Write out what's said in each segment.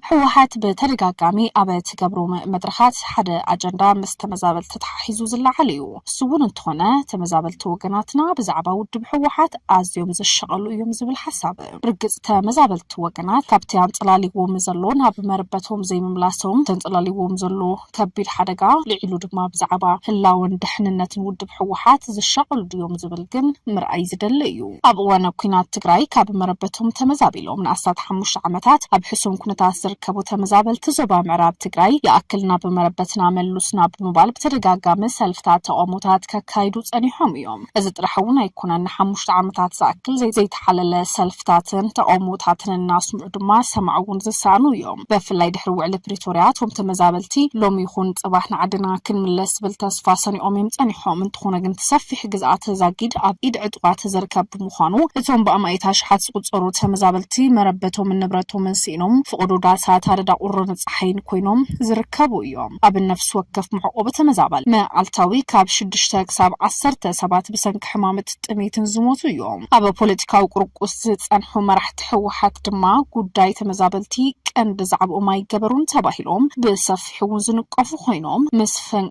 ህወሓት ብተደጋጋሚ ኣብ ትገብሮ መድረኻት ሓደ ኣጀንዳ ምስ ተመዛበልቲ ተሓሒዙ ዝለዓል እዩ። እሱ እውን እንተኾነ ተመዛበልቲ ወገናትና ብዛዕባ ውድብ ህወሓት ኣዝዮም ዝሸቐሉ እዮም ዝብል ሓሳብ ርግጽ ተመዛበልቲ ወገናት ካብቲ ኣንጸላልይዎም ዘሎ ናብ መረበቶም ዘይምምላሶም ተንጸላልይዎም ዘሎ ከቢድ ሓደጋ ልዒሉ ድማ ብዛዕባ ህላወን ደሕንነትን ውድብ ህወሓት ዝሻቐሉ ድዮም ዝብል ግን ምርኣይ ዝደሊ እዩ። ኣብ እዋነ ኲናት ትግራይ ካብ መረበቶም ተመዛቢሎም ንኣስታት ሓሙሽተ ዓመታት ኣብ ሕሱም ኩነታት ዝርከቡ ተመዛበልቲ ዞባ ምዕራብ ትግራይ ይኣክል ናብ መረበትና መሉስና ብምባል ብተደጋጋሚ ሰልፍታት ተቓውሞታት ከካይዱ ጸኒሖም እዮም። እዚ ጥራሕ እውን ኣይኮነን፣ ንሓሙሽተ ዓመታት ዝኣክል ዘይተሓለለ ሰልፍታትን ተቓውሞታትን እናስምዑ ድማ ሰማዒ እውን ዝሰኣኑ እዮም። በፍላይ ድሕሪ ውዕሊ ፕሪቶርያ እቶም ተመዛበልቲ ሎሚ ይኹን ፅባሕ ንዓድና ክንምለስ ዝብል ተስፋ ሰኒቖም እዮም ፀኒሖም። እንተኾነ ግን እቲ ሰፊሕ ግዝኣተ ዛጊድ ኣብ ኢድ ዕጡቓት ዝርከብ ብምዃኑ እቶም ብኣማኢት ኣሽሓት ዝቑፀሩ ተመዛበልቲ መረበቶምን ንብረቶምን ስኢኖም ፍቑዶ ዳሳት ኣደዳ ቁርን ፀሓይን ኮይኖም ዝርከቡ እዮም። ኣብ ነፍሲ ወከፍ መዕቆቢ ተመዛባሊ መዓልታዊ ካብ ሽዱሽተ ክሳብ ዓሰርተ ሰባት ብሰንኪ ሕማምት ጥሜትን ዝሞቱ እዮም። ኣብ ፖለቲካዊ ቁርቁስ ዝፀንሑ መራሕቲ ህወሓት ድማ ጉዳይ ተመዛበልቲ ቀንዲ ዛዕብኦም ኣይገበሩን ተባሂሎም ብሰፊሑ እውን ዝንቀፉ ኮይኖም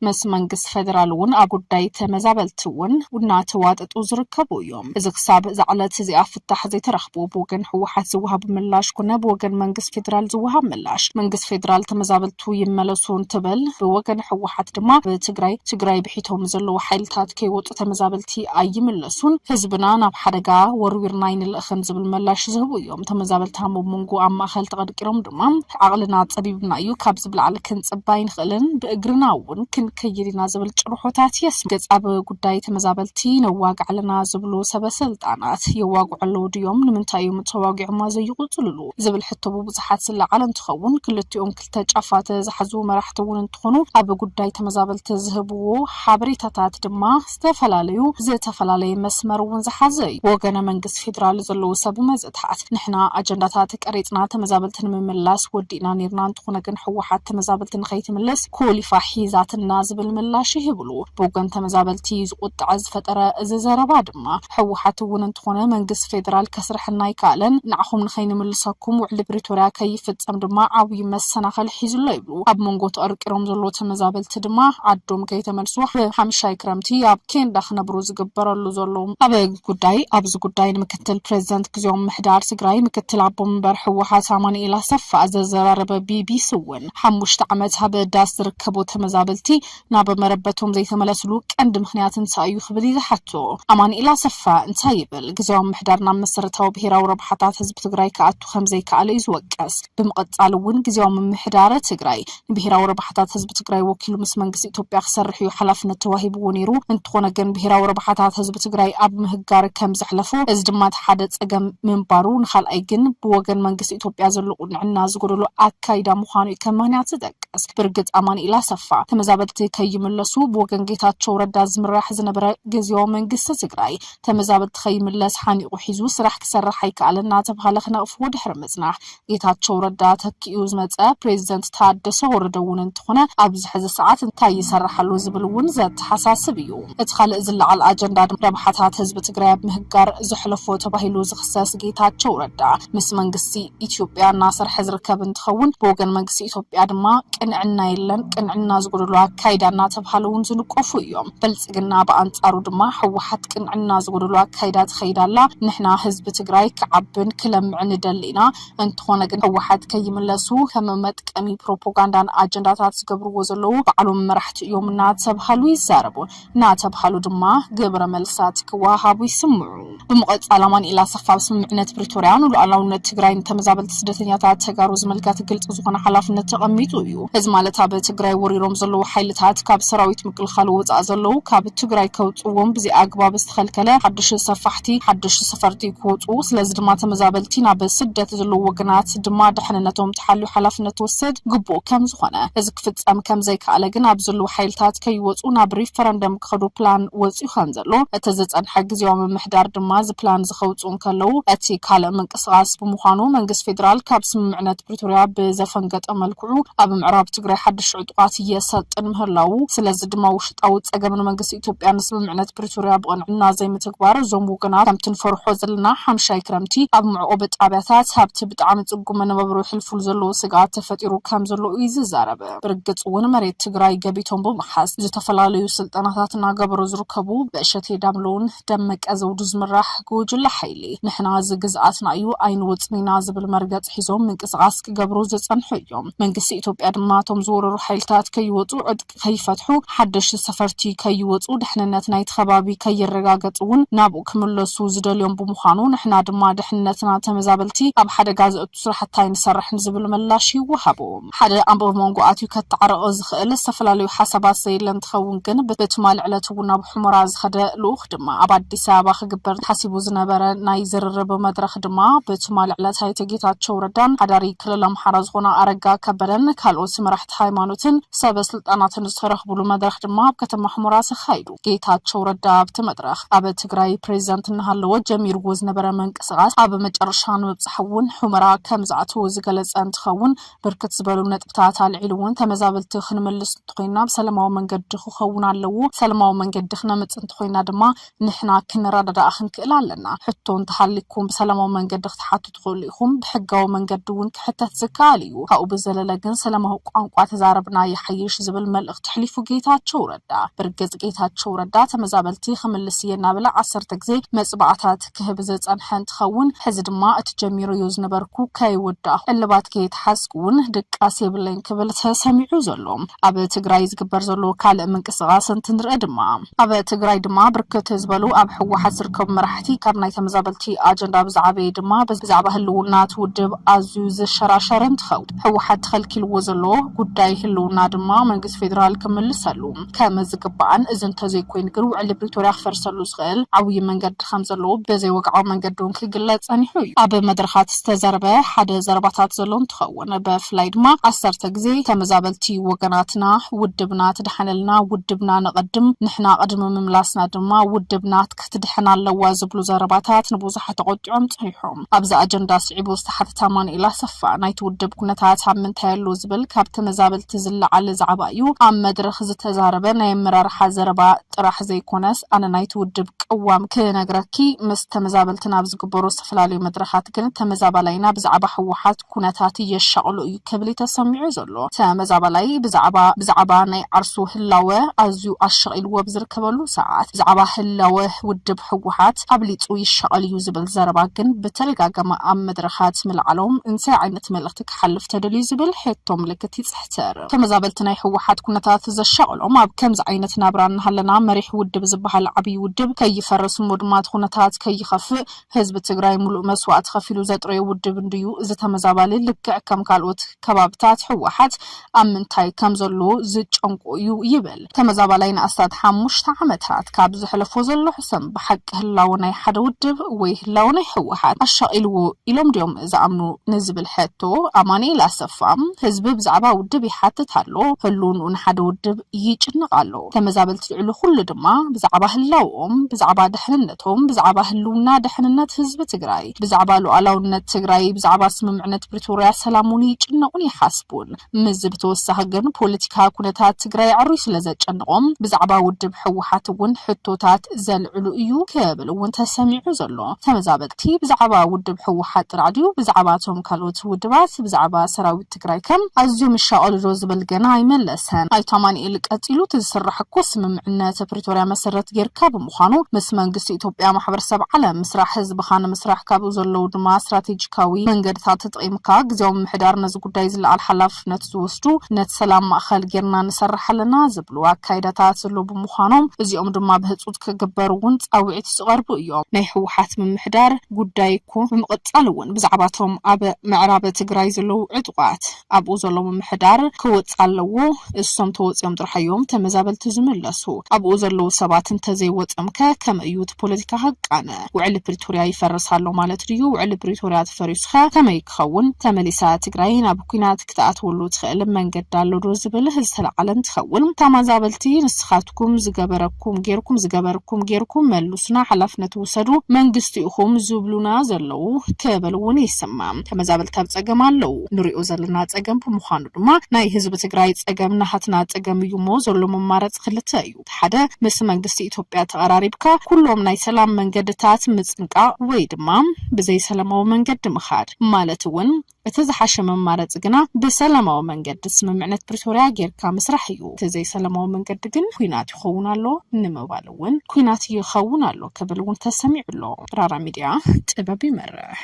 ምስ መንግስቲ ፌደራል እውን ኣብ ጉዳይ ተመዛበልቲ እውን እናተዋጠጡ ዝርከቡ እዮም። እዚ ክሳብ እዛ ዕለት እዚኣ ፍታሕ ዘይተረኽቡ ብወገን ህወሓት ዝወሃብ ምላሽ ኩነ ብወገን መንግስት ፌዴራል ዝወሃብ ምላሽ መንግስት ፌዴራል ተመዛበልቱ ይመለሱ እንትብል ብወገን ህወሓት ድማ ብትግራይ ትግራይ ብሒቶም ዘለዉ ሓይልታት ከይወጡ ተመዛበልቲ ኣይምለሱን ህዝብና ናብ ሓደጋ ወርዊርና ኣይንልእኽን ዝብል መላሽ ዝህቡ እዮም ተመዛበልቲ ኣብ መንጎ ኣብ ማእኸል ተቐድቂሮም ድማ ዓቕልና ፀቢብና እዩ ካብዚ ብላዕሊ ክንፅበ ኣይንኽእልን ብእግርና እውን ክንከይድ ኢና ዝብል ጭርሖታት የስምዕ። ገጽ ኣብ ጉዳይ ተመዛበልቲ ነዋግዕ ኣለና ዝብሉ ሰበ ስልጣናት የዋግዑ ኣለዉ ድዮም? ንምንታይ እዮም ተዋጊዖማ ዘይቕጽልሉ? ዝብል ሕቶ ብብዙሓት ዝለዓል እንትኸውን ክልቲኦም ክልተ ጫፋት ዝሓዙ መራሕቲ እውን እንትኾኑ ኣብ ጉዳይ ተመዛበልቲ ዝህብዎ ሓበሬታታት ድማ ዝተፈላለዩ ዝተፈላለየ መስመር እውን ዝሓዘ እዩ። ብወገነ መንግስቲ ፌዴራል ዘለዉ ሰብ መዘታት ንሕና ኣጀንዳታት ቀሪፅና ተመዛበልቲ ንምምላስ ወዲእና ነይርና እንተኾነ ግን ህወሓት ተመዛበልቲ ንከይትምልስ ኮሊፋ ሒዛትልና ዝብል ምላሽ ይህብሉ። ብወገን ተመዛበልቲ ዝቁጠዐ ዝፈጠረ እዚ ዘረባ ድማ ህወሓት እውን እንተኾነ መንግስቲ ፌደራል ከስርሐና ኣይከኣለን፣ ንዓኹም ንከይንምልሰኩም ውዕሊ ፕሪቶርያ ከይፍፀም ድማ ዓብዩ መሰናኸል ሒዙ ኣሎ ይብሉ። ኣብ መንጎ ተቐርቂሮም ዘለዉ ተመዛበልቲ ድማ ዓዶም ከይተመልሱ ብሓምሻይ ክረምቲ ኣብ ኬንዳ ክነብሩ ዝግበረሉ ዘሎ ኣብ ጉዳይ ኣብዚ ጉዳይ ንምክትል ፕረዚደንት ግዚያዊ ምምሕዳር ትግራይ ምክትል ኣቦ መንበር ህወሓት ኣማኑኤል ኣሰፋ ዘዘራረበ ቢቢሲ እውን ሓሙሽተ ዓመት ኣብ ዳስ ዝርከቡ ተመዛበልቲ ናብ መረበቶም ዘይተመለስሉ ቀንዲ ምኽንያት እንታይ እዩ ክብል እዩ ዝሓቶ። ኣማኒኤል ኣሰፋ እንታይ ይብል? ግዝያዊ ምምሕዳር ናብ መሰረታዊ ብሄራዊ ረብሓታት ህዝቢ ትግራይ ክኣቱ ከምዘይከኣለ እዩ ዝወቀስ። ብምቕፃል እውን ግዝያዊ ምምሕዳረ ትግራይ ንብሄራዊ ረብሓታት ህዝቢ ትግራይ ወኪሉ ምስ መንግስቲ ኢትዮጵያ ክሰርሕ እዩ ሓላፍነት ተዋሂብዎ ነይሩ። እንትኾነ ግን ብሄራዊ ረብሓታት ህዝቢ ትግራይ ኣብ ምህጋር ከምዘሕለፎ እዚ ድማ እቲ ሓደ ፀገም ምንባሩ ንካልኣይ ግን ብወገን መንግስቲ ኢትዮጵያ ዘሎ ቁንዕና ዝጎደሎ ኣካይዳ ምዃኑ እዩ ከም ምኽንያት ዝጠቅስ። እስኪ ብርግፅ ኣማኒኤል ኣሰፋ ተመዛበልቲ ከይምለሱ ብወገን ጌታቸው ረዳ ዝምራሕ ዝነበረ ግዚያዊ መንግስቲ ትግራይ ተመዛበልቲ ከይምለስ ሓኒቑ ሒዙ ስራሕ ክሰርሕ ኣይከኣለን እናተብሃለ ክነቕፍዎ ድሕሪ ምፅናሕ ጌታቸው ረዳ ተኪኡ ዝመፀ ፕሬዚደንት ታደሰ ወረደ እውን እንተኾነ ኣብዚ ሕዚ ሰዓት እንታይ ይሰርሕ ኣሎ ዝብል እውን ዘተሓሳስብ እዩ። እቲ ኻልእ ዝለዓል ኣጀንዳ ድማ ረብሓታት ህዝቢ ትግራይ ኣብ ምህጋር ዘሕለፎ ተባሂሉ ዝኽሰስ ጌታቸው ረዳ ምስ መንግስቲ ኢትዮጵያ እናሰርሐ ዝርከብ እንትኸውን ብወገን መንግስቲ ኢትዮጵያ ድማ ቅንዕና የለን፣ ቅንዕና ዝጎደሎ ኣካይዳ እናተብሃለ እውን ዝንቆፉ እዮም። ብልፅግና ብኣንፃሩ ድማ ህወሓት ቅንዕና ዝጎደሎ ኣካይዳ ትኸይድ ኣላ፣ ንሕና ህዝቢ ትግራይ ክዓብን ክለምዕን ንደሊ ኢና፣ እንተኾነ ግን ህወሓት ከይምለሱ ከም መጥቀሚ ፕሮፖጋንዳን ኣጀንዳታት ዝገብርዎ ዘለዉ ባዕሎም መራሕቲ እዮም እናተብሃሉ ይዛረቡ። እናተብሃሉ ድማ ግብረ መልስታት ክወሃሃቡ ይስምዑ። ብምቕፃል ኣማኒኤል ኣሰፋ ኣብ ስምምዕነት ፕሪቶርያ ንሉኣላውነት ትግራይ ንተመዛበልቲ ስደተኛታት ተጋሩ ዝምልከት ግልፂ ዝኾነ ሓላፍነት ተቐሚጡ እዩ። እዚ ማለት ኣብ ትግራይ ወሪሮም ዘለዉ ሓይልታት ካብ ሰራዊት ምክልኻል ወፃእ ዘለዉ ካብ ትግራይ ከውፅእዎም ብዘይኣግባብ ዝተኸልከለ ሓዱሽ ሰፋሕቲ ሓዱሽ ሰፈርቲ ክወፁ ስለዚ ድማ ተመዛበልቲ ናብ ስደት ዘለዉ ወገናት ድማ ድሕንነቶም ተሓልዩ ሓላፍነት ክወሰድ ግቡእ ከምዝኾነ እዚ ክፍጸም ከምዘይከኣለ ግን ኣብ ዝልዉ ሓይልታት ከይወጹ ናብ ሪፈረንደም ክኸዱ ፕላን ወጺኡ ከምዘሎ እቲ ዝጸንሐ ግዝያዊ ምምሕዳር ድማ እዚ ፕላን ዝኸውጽኡ እንከለዉ እቲ ካልእ ምንቅስቓስ ብምዃኑ መንግስት ፌደራል ካብ ስምምዕነት ፕሪቶርያ ብዘፈንገጠ መልክዑ ኣብ ምዕራብ ትግራይ ሓድሽ ዕጡቓት የሰልጥን ምህላዉ ስለዚ ድማ ውሽጣዊ ጸገም ንመንግስት ኢትዮጵያ ንስምምዕነት ፕሪቶርያ ብቕንዕና ዘይምትግባር እዞም ወገናት ከምቲ ንፈርሖ ዘለና ሓምሻይ ክረምቲ ኣብ መዕቖቢ ጣብያታት ኣብቲ ብጣዕሚ ጽጉም መነባብሮ የሕልፉሉ ዘለዉ ስግኣት ተፈጢሩ ከም ዘሎ እዩ ዝዛረብ። ብርግፅ እውን መሬት ትግራይ ገቢቶም ብምሓዝ ዝተፈላለዩ ስልጠናታት እናገበሩ ዝርከቡ ብእሸቴ ዳምለውን ደመቀ ዘውዱ ዝምራሕ ጉጅለ ሓይሊ ንሕና እዚ ግዝኣትና እዩ ኣይንወፅን ኢና ዝብል መርገፂ ሒዞም ምንቅስቓስ ክገብሩ ዝፀንሑ እዮም። መንግስቲ ኢትዮጵያ ድማ እቶም ዝወረሩ ሓይልታት ከይወፁ ዕጥቂ ከይፈትሑ፣ ሓደሽቲ ሰፈርቲ ከይወጹ፣ ድሕንነት ናይቲ ከባቢ ከይረጋገጽ እውን ናብኡ ክምለሱ ዝደልዮም ብምዃኑ፣ ንሕና ድማ ድሕንነትና ንተመዛበልቲ ኣብ ሓደጋ ዘእቱ ስራሕቲ ኣይንሰርሕን ዝብል ምላሽ ይወሃቦ። ሓደ ኣንበቢ መንጎ ኣትዩ ከታዕርቕ ዝኸእል ዝተፈላለዩ ሓሳባት ዘየለ እንትኸውን ግን፣ ብትማሊ ዕለት እውን ናብ ሑመራ ዝኸደ ልኡኽ ድማ ኣብ ኣዲስ ኣበባ ክግበር ተሓሲቡ ዝነበረ ናይ ዝርርብ መድረኽ ድማ ብትማሊ ዕለት ኣይተ ጌታቸው ረዳን ሓዳሪ ክልል ኣምሓራ ዝኾነ ኣረጋ ከበደን ካልኦት መራሕቲ መራሕቲ ሃይማኖትን ሰበ ስልጣናትን ዝተረኽብሉ መድረኽ ድማ ኣብ ከተማ ሑመራ ተኻይዱ። ጌታቸው ረዳ ኣብቲ መድረኽ ኣብ ትግራይ ፕሬዚዳንት እናሃለወ ጀሚርዎ ዝነበረ ምንቅስቓስ ኣብ መጨረሻ ንምብፃሕ እውን ሑመራ ከምዝኣተወ ዝገለፀ እንትኸውን ብርክት ዝበሉ ነጥብታት ኣልዒሉ እውን ተመዛበልቲ ክንምልስ እንተኾይና ብሰለማዊ መንገዲ ክኸውን ኣለዎ፣ ሰለማዊ መንገዲ ክነምፅእ እንተኾይና ድማ ንሕና ክንረዳዳእ ክንክእል ኣለና። ሕቶ እንተሃልይኩም ብሰላማዊ መንገዲ ክትሓቱ ትኽእሉ ኢኹም፣ ብሕጋዊ መንገዲ እውን ክሕተት ዝከኣል እዩ። ካብኡ ብዘለለ ግን ሰላማዊ ቋንቋ ተዛረብና ይሓይሽ ዝብል መልእኽቲ ኣሕሊፉ ጌታቸው ረዳ። ብርግፅ ጌታቸው ረዳ ተመዛበልቲ ክምልስ እየ እናበለ ዓሰርተ ግዜ መፅብዓታት ክህብ ዝፀንሐ እንትኸውን ሕዚ ድማ እቲ ጀሚረዮ ዝነበርኩ ከይወዳእኹ እልባት ከይተሓዝኩ እውን ድቃስ የብለይን ክብል ተሰሚዑ እዩ ዘሎ። ኣብ ትግራይ ዝግበር ዘሎ ካልእ ምንቅስቓስ እንትንርኢ ድማ፣ ኣብ ትግራይ ድማ ብርክት ዝበሉ ኣብ ህወሓት ዝርከቡ መራሕቲ ካብ ናይ ተመዛበልቲ ኣጀንዳ ብዝዓበየ ድማ ብዛዕባ ህልውና እቲ ውድብ ኣዝዩ ዝሸራሸር እንትኸውን ህወሓት ተኸልኪልዎ ዘሎ ጉዳይ ህልውና ድማ መንግስቲ ፌዴራል ክምልሰሉ ከምዝግባእን እዚ እንተዘይኮይኑ ግን ውዕሊ ፕሪቶርያ ክፈርሰሉ ዝኽእል ዓብይ መንገዲ ከምዘሎ ብዘይወግዓዊ መንገዲ እውን ክግለፅ ፀኒሑ እዩ። ኣብ መድረኻት ዝተዘርበ ሓደ ዘረባታት ዘሎ እንትኸውን። ኮነ በፍላይ ድማ ዓሰርተ ግዜ ተመዛበልቲ ወገናትና ውድብና ትድሓነልና ውድብና ነቐድም ንሕና ቅድሚ ምምላስና ድማ ውድብና ክትድሕን ኣለዋ ዝብሉ ዘረባታት ንብዙሓት ኣቖጢዖም ጸኒሖም። ኣብዚ ኣጀንዳ ስዒቡ ዝተሓተተ ኣማኑኤል ኣሰፋ ናይቲ ውድብ ኩነታት ኣብ ምንታይ ኣሎ ዝብል ካብ ተመዛበልቲ ዝለዓል ዛዕባ እዩ ኣብ መድረኽ ዝተዛረበ ናይ ኣመራርሓ ዘረባ ጥራሕ ዘይኮነስ ኣነ ናይቲ ውድብ ቅዋም ክነግረኪ ምስ ተመዛበልቲ ናብ ዝግበሩ ዝተፈላለዩ መድረኻት ግን ተመዛባላይና ብዛዕባ ህወሓት ኩነታት የሻቕሎ እዩ ክብል እዩ ተሰሚዑ ዘሎ። ተመዛባላይ ብዛዕባ ብዛዕባ ናይ ዓርሱ ህላወ ኣዝዩ ኣሻቒልዎ ብዝርከበሉ ሰዓት፣ ብዛዕባ ህላወ ውድብ ህወሓት ኣብሊፁ ይሻቐል እዩ ዝብል ዘረባ ግን ብተደጋጋሚ ኣብ መድረኻት ምልዓሎም እንታይ ዓይነት መልእኽቲ ክሓልፍ ተደልዩ ዝብል ሕቶ ምልክት ይፅሕትር። ተመዛበልቲ ናይ ህወሓት ኩነታት ዘሻቕሎም ኣብ ከምዚ ዓይነት ናብራ እናሃለና መሪሕ ውድብ ዝበሃል ዓብዪ ውድብ ከይፈርስ እሞ ድማ እቲ ኩነታት ከይኸፍእ ህዝቢ ትግራይ ሙሉእ መስዋእቲ ከፊሉ ዘጥረዮ ውድብ እንድዩ እዚ ተመዛባሊ ልክዕ ከም ካልኦት ከባብታት ህወሓት ኣብ ምንታይ ከም ዘሎ ዝጨንቆ እዩ ይብል ተመዛባላይ ንኣስታት ሓሙሽተ ዓመታት ካብ ዘሕለፎ ዘሎ ሕሰም ብሓቂ ህላወ ናይ ሓደ ውድብ ወይ ህላወ ናይ ህወሓት ኣሻቂልዎ ኢሎም ድዮም ዝኣምኑ ንዝብል ሕቶ ኣማኒኤል ኣሰፋ ህዝቢ ብዛዕባ ውድብ ይሓትት ኣሎ ህልውንኡ ንሓደ ውድብ ይጭነቅ ኣሎ ተመዛበልቲ ልዕሊ ኩሉ ድማ ብዛዕባ ህላወኦም ብዛዕባ ድሕንነቶም ቶም ብዛዕባ ህልውና ደሕንነት ህዝቢ ትግራይ ብዛዕባ ሉኣላውነት ትግራይ ብዛዕባ ስምምዕነት ፕሪቶርያ ሰላም እውን ይጭነቑን ይሓስቡን ምስዚ ብተወሳኺ ግን ፖለቲካ ኩነታት ትግራይ ኣዕርዩ ስለ ዘጨንቖም ብዛዕባ ውድብ ህወሓት እውን ሕቶታት ዘልዕሉ እዩ ክብል እውን ተሰሚዑ ዘሎ ተመዛበልቲ ብዛዕባ ውድብ ህወሓት ጥራሕ ድዩ ብዛዕባ ቶም ካልኦት ውድባት ብዛዕባ ሰራዊት ትግራይ ከ ኣዝዮም ይሻቐሉ ዶ ዝብል ገና ኣይመለሰን ኣይተ ኣማኒኤል ቀፂሉ እቲ ዝስራሕ እኮ ስምምዕነት ፕሪቶርያ መሰረት ገይርካ ብምዃኑ ምስ መንግስቲ ኢትዮጵያ ማሕበረሰብ ዓለም ምስራሕ ህዝብኻ ንምስራሕ ካብኡ ዘለዉ ድማ ስትራቴጂካዊ መንገድታት ተጠቒምካ ግዝያዊ ምምሕዳር ነዚ ጉዳይ ዝለዓል ሓላፍነት ዝወስዱ ነቲ ሰላም ማእኸል ገይርና ንሰርሕ ኣለና ዝብሉ ኣካይዳታት ዘለዉ ብምዃኖም እዚኦም ድማ ብህፁፅ ክግበሩ እውን ፃውዒት ዝቐርቡ እዮም ናይ ህወሓት ምምሕዳር ጉዳይ እኮ ብምቕፃል እውን ብዛዕባ እቶም ኣብ ምዕራብ ትግራይ ዘለዉ ዕጡቓት ኣብኡ ዘሎ ምምሕዳር ክወፅእ ኣለዎ እሶም ተወፂኦም ጥራሕ እዮም ተመዛበልቲ ዝምለሱ ኣብኡ ዘለዉ ሰባት እንተዘይወፂኦም ከ ከመይ እዩ እቲ ፖለቲካ ክቃነ ውዕሊ ፕሪቶርያ ይፈርስ ኣሎ ማለት ድዩ ውዕሊ ፕሪቶርያ ተፈሪሱ ከ ከመይ ክኸውን ተመሊሳ ትግራይ ናብ ኩናት ክትኣትወሉ ትኽእል መንገዲ ኣሎዶ ዝብል ዝተላዕለ እንትኸውን ታማዛበልቲ ንስኻትኩም ዝገበረኩም ጌርኩም ዝገበርኩም ጌርኩም መሉሱና ሓላፍነት ውሰዱ መንግስቲ ኢኹም ዝብሉና ዘለው ክብል እውን ይስማዕ ተመዛበልቲ ኣብ ፀገም ኣለው ንሪኦ ዘለና ፀገም ብምዃኑ ድማ ናይ ህዝቢ ትግራይ ፀገም ናሃትና ፀገም እዩ እሞ ዘሎ መማረፂ ክልተ እዩ እቲ ሓደ ምስ መንግስቲ ኢትዮጵያ ተቐራሪብካ ኩሎም ናይ ሰላም መንገድታት ምፅንቃቕ ወይ ድማ ብዘይሰለማዊ መንገዲ ምኻድ ማለት እውን እቲ ዝሓሸ መማረፂ ግና ብሰላማዊ መንገዲ ስምምዕነት ፕሪቶርያ ገይርካ ምስራሕ እዩ። እቲ ዘይሰለማዊ መንገዲ ግን ኲናት ይኸውን ኣሎ ንምባል እውን ኲናት ይኸውን ኣሎ ክብል እውን ተሰሚዑ ኣሎ። ራራ ሚድያ ጥበብ ይመርሕ!